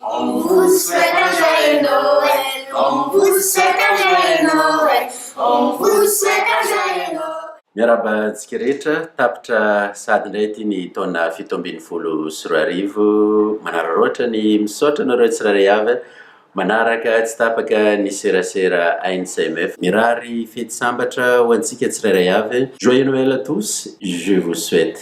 On vous souhaite un joyeux Noël, on vous souhaite un joyeux Noël, on vous souhaite un joyeux Noël. Miarahaba antsika rehetra, tapitra sahady indray ity ny taona fito ambin'ny folo sy roa arivo. Manararaotra ny misaotra anareo tsirairay avy manaraka tsy tapaka ny serasera ANCMF. Mirary fety sambatra ho antsika tsirairay avy. Joyeux Noël à tous, je vous souhaite.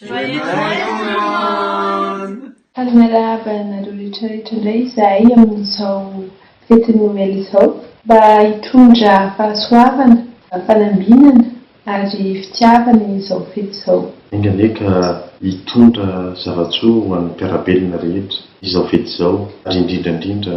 Joyeux Noël tout le monde! Mpanarahaba anareo retraretra indray izahay amin'izao fetin'ny Noely izao. Mba hitondra fahasoavana, fanambinana ary fitiavana izao fety izao. Enga anie ka hitondra zava-tsoa ho an'ny mpiara-belona rehetra izao fety izao ary indrindra indrindra